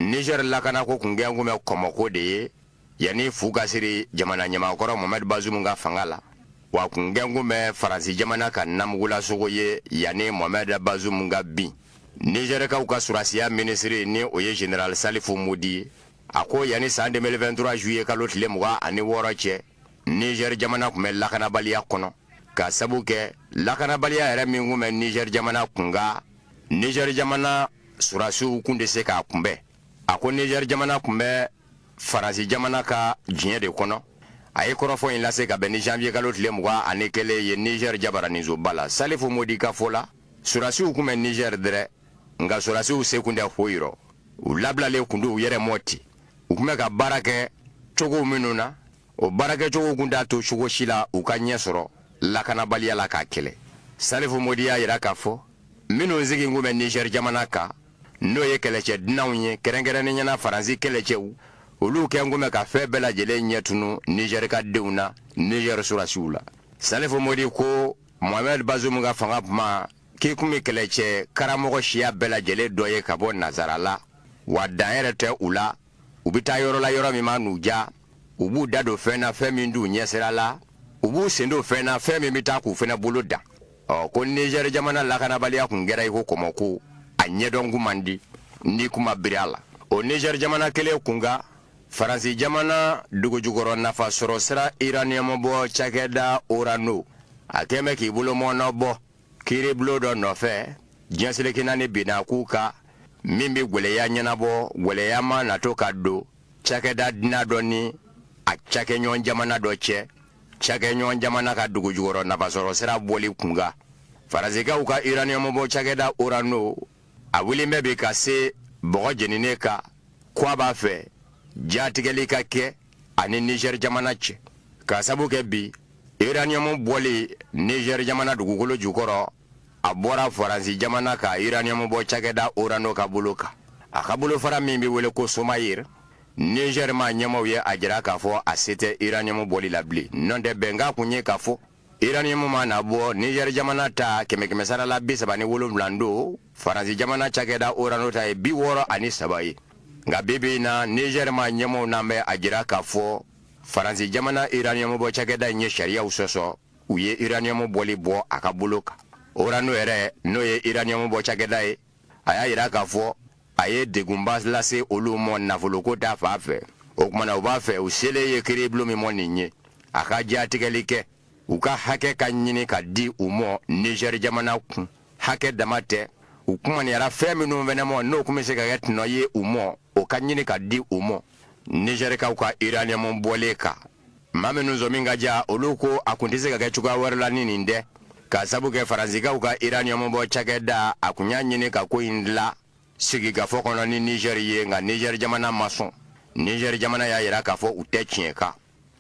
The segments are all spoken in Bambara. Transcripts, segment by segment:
Niger lakanako kun kɛn kun bɛ kɔmɔko de ye yanni fu ka siri jamana ɲɛmakɔrɔ Mohamed Bazoum ka fanga la wa a kun kɛn kun bɛ Faransi jamana ka namugulasogo ye yanni Mohamed Bazoum ka bin Nizɛrikaw ka surasiya minisiri ni o ye General Salifu Modi ye a ko yanni san 2023 juillet kalo tile mugan ani wɔɔrɔ cɛ Niger jamana kun bɛ lakanabaliya kɔnɔ ka sabu kɛ lakanabaliya yɛrɛ min kun bɛ Niger jamana kunkan Niger jamana surasiw kun tɛ se k'a kunbɛn a ko nizɛri jamana kun bɛ faransi jamana ka jiɲɛ de kɔnɔ a ye kɔrɔfɔ in lase ka bɛn ni janvier kalo tile mugan ani kelen ye nizɛri jabaraninsoba la salifu modi ka fɔ la surasiw kun bɛ nizɛri dɛrɛ nka surasiw se kun tɛ foyi rɔ u labilalen kun don u yɛrɛ ma ten u kun bɛ ka baara kɛ cogow minnu na o baarakɛcogo kun t'a to cogo si la u ka ɲɛ sɔrɔ lakanabaliya la k'a kɛlɛ salifu modi y'a jira k'a fɔ minnu sigi kun bɛ nizɛri jamana kan n'o ye kɛlɛcɛ dunanw ye kɛrɛnkɛrɛnnenya na faransi kɛlɛcɛw olu kɛn kun bɛ ka fɛn bɛɛ lajɛlen ɲɛ tunun nizɛrika denw na nizɛri surasiw la salifu modi ko mohamɛd bazumu ka fanga kuma k'i kun bɛ kɛlɛcɛ karamɔgɔ siya bɛɛ lajɛlen dɔ ye ka bɔ nazara la wa dan yɛrɛ tɛ u la u bɛ taa yɔrɔ la yɔrɔ min man'u diya u b'u da don fɛn na fɛn min t'u ɲɛsira la u b'u sen don fɛn na fɛn min bɛ taa k'u fana bolo dan ɔ ko nizɛri jamana lakanabaliya tun kɛra i ko kɔmɔko a ɲɛdɔn kun man di n'i kun ma biri a la o nizɛri jamana kelen kunkan faransi jamana dugujukɔrɔ nafa sɔrɔ sira iraniyɔmu bɔ cakɛda orano a kɛn bɛ k'i bolo mɔɔnɔ bɔ kiiribulon dɔ nɔfɛ diɲɛ seleke naani bɛnna k'u ka min bɛ gwɛlɛya ɲɛnabɔ gwɛlɛya mana to ka don cakɛda dunan dɔ ni a cakɛɲɔgɔn jamana dɔ cɛ cakɛɲɔgɔn jamana ka dugujukɔrɔ nafasɔrɔ sira bɔli kunkan faransikaw ka iraniyɔmu bɔ cakɛda orano a wulilen bɛ bi ka se bɔgɔ jeninen kan ko a b'a fɛ jatigɛli ka kɛ a ni nizɛri jamana cɛ ka sabu kɛ bi iraniyɔmu bɔli nizɛri jamana dugukolo jukɔrɔ a bɔra faransi jamana ka iraniyɔmu bɔ cakɛda orano ka bolo kan a ka bolofara min bɛ wele ko somayir nizɛri ma ɲɛmaw ye a jira k'a fɔ a se tɛ iraniyɔmu bɔli la bilen n'o tɛ bɛnkan kun ye k'a fɔ iraniyɔmu mana bɔ nizɛri jamana ta kɛmɛ kɛmɛ sara la bi saba ni wolonwula don faransi jamana cakɛda orano ta ye bi wɔɔrɔ ani saba ye nka bi bi in na nizɛri ma ɲɛmaw nan bɛ a jira k'a fɔ faransi jamana iraniyɔmu bɔ cakɛda in ye sariyaw sɔsɔ u ye iraniyamu bɔli bɔ a ka bolo kan orano yɛrɛ n'o ye iraniyamu bɔ cakɛda ye a y'a yira k'a fɔ a ye degunba lase olu mɔ nafoloko ta fan fɛ o tumana u b'a fɛ u selen ye kiribulon min mɔ nin ye a ka jatigɛli kɛ u ka hakɛ ka ɲini ka di u mɔ nizɛri jamana kun hakɛ dama tɛ u kumaniyara fɛn minnu fɛnɛ mɔ n'o tun bɛ se ka kɛ tɔnɔ ye u mɔ o ka ɲini ka di u mɔ nizɛrikaw ka iraniyamu bɔlen kan maa minnu sɔmi ka diya olu ko a tun tɛ se ka kɛ cogoya wɛrɛ la ni nin tɛ k'a sabu kɛ faransikaw ka iraniyamubɔ cakɛda a tun y'a ɲini ka ko in dilan sigikafɔ kɔnɔ ni nizɛri ye nka nizɛri jamana ma sɔn nizɛri jamana y'a jira k'a fɔ u tɛ tiɲɛ kan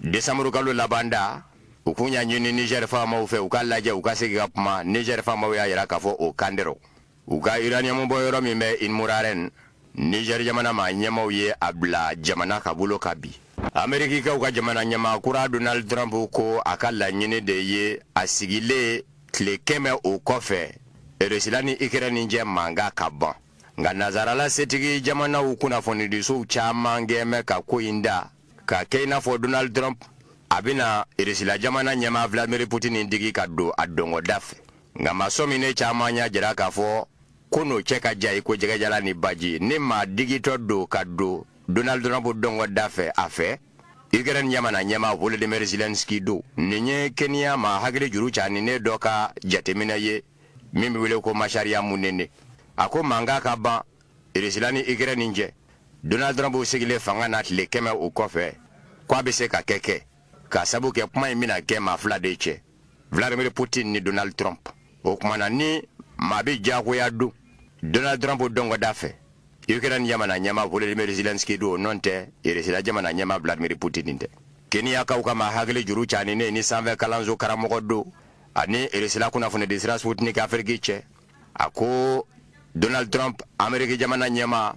desanburu kalo laban da u kun y'a ɲini nizɛri faamaw fɛ u ka lajɛ u ka sigi ka kuma nizɛri faamaw y'a jira k'a fɔ o kan dɛrɛ u ka iraniyamubɔ yɔrɔ min bɛ imuraren nizɛri jamana maa ɲɛmaaw ye a bila jamana ka bolo kan bi amerikikaw ka jamana ɲɛmaa kura donald trump ko a ka laɲini de ye a sigilen tile kɛmɛ o kɔfɛ irisila ni ukraine cɛ mankan ka ban nka nansarala setigi jamanaw kunnafonidisow caman kɛn bɛ ka ko in da ka kɛ i n'a fɔ donald trump a bɛna irisila jamana ɲɛmaa vladimir putin digi ka don a dɔngɔda fɛ nka maa sɔminen caman y'a jira k'a fɔ k'o n'o cɛ ka jan i ko jɛgɛ jalan ni baji ni maa digitɔ don ka don donald trump dɔngɔda fɛ a fɛ ukraine jamana ɲɛma volodymyr zelensky don nin ye keniya maa hakili juru caninen dɔ ka jateminɛ ye min bɛ wele ko masariya munene a ko mankan ka ban Irisila ni ukraine cɛ donald trump sigilen fanga na tile kɛmɛ o kɔfɛ k' a bɛ se ka kɛ kɛ k'a sabu kɛ kuma in bɛna kɛ maa fila de cɛ vladimir putin ni donald trump o tumana ni maa bɛ diyagoya don donald trump dɔngɔda fɛ ukraine jamana ɲɛma volodymyr zelensky don o nɔ tɛ irisila jamana ɲɛma vladimir putin tɛ keniyakaw ka maa hakili juru caninen nin sanfɛ kalanso karamɔgɔ don ani irisila kunnafoni di sira sputnik afiriki cɛ a ko donald trump ameriki jamana ɲɛma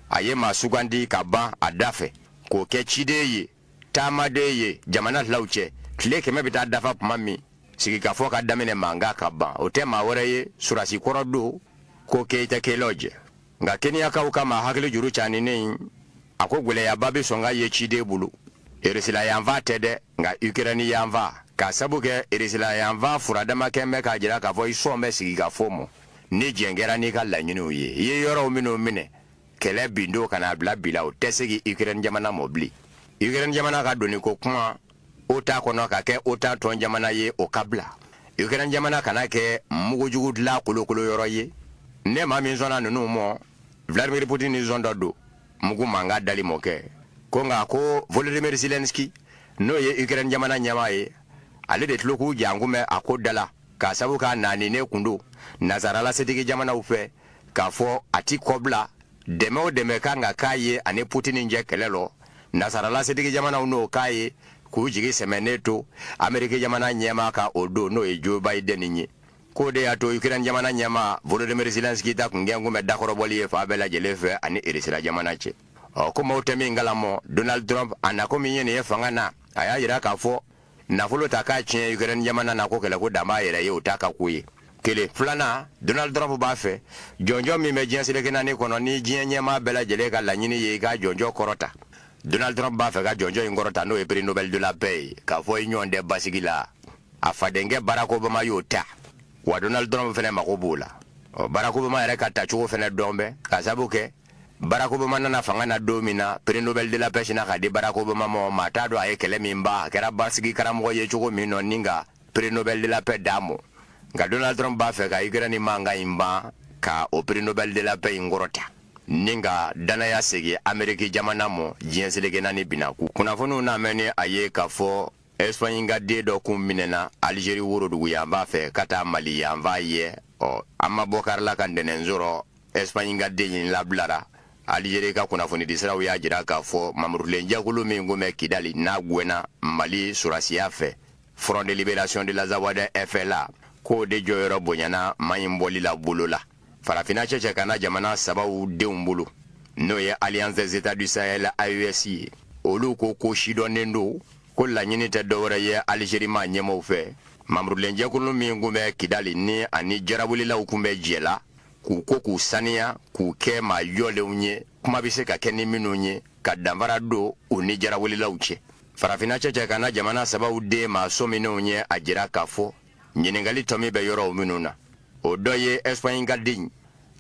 a ye maa sugandi ka ban a da fɛ k'o kɛ ciden ye taamaden ye jamana filaw cɛ tile kɛmɛ bɛ taa dafa tuma min sigikafɔ ka daminɛ mankan ka ban o tɛ maa wɛrɛ ye surasi kɔrɔ don ko keith kellogg nka keniyakaw ka maa hakili juru caninen in a ko gwɛlɛyaba bɛ sɔn ka ye ciden bolo irisila yanfan tɛ dɛ nka ukraine yanfan k'a sabu kɛ irisila yanfan furadama kɛn bɛ k'a jira k'a fɔ i sɔn bɛ sigikafɔ mɔ ni jɛn kɛra n'i ka laɲiniw ye i ye yɔrɔw minnu minɛ kɛlɛ bin don ka n'a bila bi la o tɛ segi ukraine jamana mɔ bilen ukraine jamana ka donni ko kuma otan kɔnɔ ka kɛ otan tɔn jamana ye o ka bila ukraine jamana kana kɛ mugujugu dila kolokolo yɔrɔ ye ne ma min sɔnna ninnu mɔ vladimir putin ni sɔn dɔ don mugu mankan dali mɔ kɛ ko nka ko volodymyr zelensky n'o ye ukraine jamana ɲɛmaa ye ale de tulo k'u jangun bɛ a ko dala k'a sabu k'a naaninen kun don nasaralasetigi jamanaw fɛ k'a fɔ a ti kɔbila dɛmɛ o dɛmɛ kan ka k'a ye ani putini cɛ kɛlɛ lɔ nasaralasetigi jamanaw n'o k'a ye k'u jigi sɛmɛnen to ameriki jamana ɲɛmaa kan o don n'o ye joe biden ye k'o de y'a to ukraine jamana ɲɛmaa volodymyr zelensky ta kun gɛn kun bɛ dakɔrɔbɔli ye fan bɛɛ lajɛlen fɛ ani irisira jamana cɛ ɔ ko maaw tɛ min kalamɔ donald trump a nako min ye nin ye fanga na a y'a jira k'a fɔ nafolo ta k'a tiɲɛ ukraine jamana na ko kɛlɛko dan b'a yɛrɛ ye o t'a ka ko ye kelen filanan donald trump b'a fɛ jɔnjɔn min bɛ diɲɛ seleke naani kɔnɔ ni diɲɛ ɲɛmaa bɛɛ lajɛlen ka laɲini ye i ka jɔnjɔn kɔrɔta donald trump b'a fɛ ka jɔnjɔn in kɔrɔta n'o ye prix nobel de la paix ye k'a fɔ i ɲɔgɔn tɛ basigi la a fadenkɛ barack obama y'o ta wa donald trump fana mago b'o la ɔ barack obama yɛrɛ ka tacogo fana dɔn bɛ k'a sabu kɛ barack obama nana fanga na don min na prix nobel de la paix sina ka di barack obama mɔ maa t'a dɔn a ye kɛlɛ min ban a kɛra basigi karamɔgɔ ye cogo min nɔ ni ka prix nobel de la paix d'a mɔ nka donald trump b'a fɛ ka ukraine mankan in ban ka o prix nobel de la paix in kɔrɔta ni ka dannaya segi ameriki jamana mɔ diɲɛ seleke naani bina ku kunnafoniw n'a mɛn ni a ye k'a fɔ ɛsipaɲi ka den dɔ kun minɛna alizeri worodugu yanfan fɛ ka taa mali yanfan yɛ ɔ an ma bɔ kari la ka ntɛnɛn sɔrɔ ɛsipaɲi ka den in labilara alizeri ka kunnafonidi siraw y'a jira k'a fɔ mamurulen jɛkulu min kun bɛ kidali n'a gwɛnna mali surasiya fɛ front de libération de l'azawad fla k'o de jɔyɔrɔ bonyana maa in bɔli la bolo la farafinna cɛncɛn kan na jamana sabaw denw bolo n'o ye alliance des états du sahel AES ye olu ko ko sidɔnnen don ko laɲini tɛ dɔwɛrɛ ye Algérie maa ɲɛmɔw fɛ mamurulenjɛkulu min kun bɛ kidali ni ani jarawelilaw kun bɛ jɛ la k'u ko k'u saniya k'u kɛ maa jɔlenw ye kuma bɛ se ka kɛ ni minnu ye ka danfara don u ni jarawelilaw cɛ farafinna cɛncɛn kan na jamana sabaw den maa sɔminenw ye a jira k'a fɔ ɲininkali tɔmi bɛ yɔrɔw minnu na o dɔ ye ɛsipaɲi ka den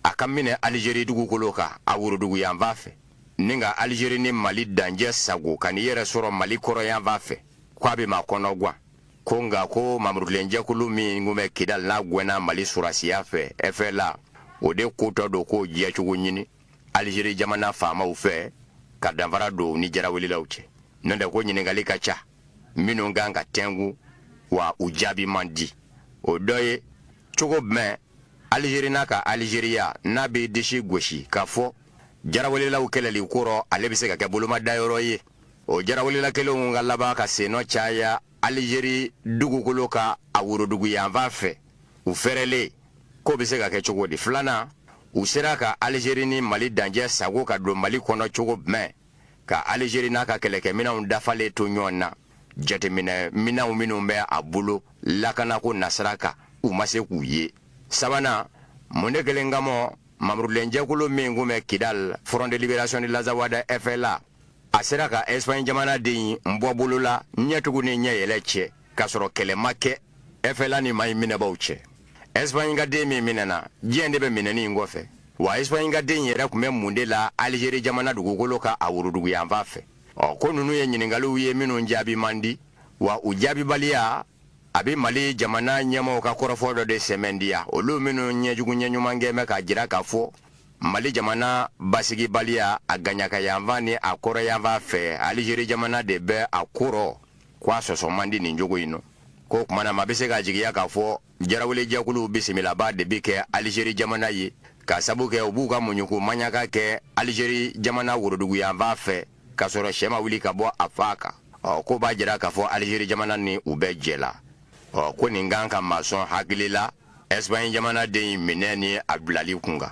a ka minɛ alizeri dugukolo kan a woroduguyanfan fɛ ni ka alizeri ni mali dancɛ sagon ka n'i yɛrɛ sɔrɔ mali kɔrɔnyanfan fɛ ko a bɛ maa kɔnɔ gwan ko nka ko mamurulenjɛkulu min kun bɛ kidali n'a gwɛnna mali surasiya fɛ ɛfɛla o de kotɔ don k'o jɛcogo ɲini alizeri jamana faamaw fɛ ka danfara don ni jarawelilaw cɛ n'o tɛ ko ɲininkali ka ca minnu kan ka tɛngu wa u jaabi man di o dɔ ye cogo jumɛn alizeri n'a ka alizeriya n'a bɛ disi gosi k'a fɔ jarawelelaw kɛlɛli kɔrɔ ale bɛ se ka kɛ bolomadayɔrɔ ye o jarawelela kelenw ka laban ka sennɔ caya alizeri dugukolo kan a worodugu yanfan fɛ u fɛrɛlen k'o bɛ se ka kɛ cogo di filanan u sera ka alizeri ni mali dancɛ sagon ka don mali kɔnɔ cogo jumɛn ka Algérie n'a ka kɛlɛkɛminɛnw dafalen to ɲɔgɔn na jateminɛ minɛnw minnu bɛ a bolo lakanako nasira kan u ma se k'u ye sabanan mun de kɛlen ka mɔgɔ mamurulen jɛkulu min kun bɛ kidal front de libération de l'azawad fla a sera ka espagne jamanaden bɔ bolo la ɲɛ tugu ni ɲɛ yɛlɛ cɛ k'a sɔrɔ kɛlɛ ma kɛ ɛfɛla ni maa in minɛbaaw cɛ ɛsipaɲi ka den min minɛna jɔni de bɛ minɛni in kɔfɛ wa ɛsipaɲi ka den yɛrɛ tun bɛ mun de la alizeri jamana dugukolo kan a woroduguyanfan fɛ o ko ninnu ye ɲininkaliw ye minnu jaabi man di wa u jaabibaliya a bɛ mali jamana ɲɛmɔgɔw ka kɔrɔfɔ dɔ de sɛmɛntiya olu minnu ɲɛ jugu ɲɛ ɲuman kɛ bɛ k'a jira k'a fɔ mali jamana basigibaliya a kɛɲɛkayanfan ni a kɔrɔnyanfan fɛ alizeri jamana de bɛ a kɔrɔ k'a sɔsɔ man di nin cogo in na o tuma na maa bɛ se ka jigiya k'a fɔ jarawele jɛkuluw bisimilabaa de bɛ kɛ alizeri jamana ye k'a sabu kɛ u b'u ka muɲuku maɲaka kɛ alizeri jamana woroduguyanfan fɛ k'a sɔrɔ sɛ ma wuli ka bɔ a fan kan o ko b'a jira k'a fɔ alizeri jamana ni u bɛ jɛ la o ko nin ka kan ka maa sɔn hakili la ɛsipaɲi jamanaden in minɛ ni a bilali kun kan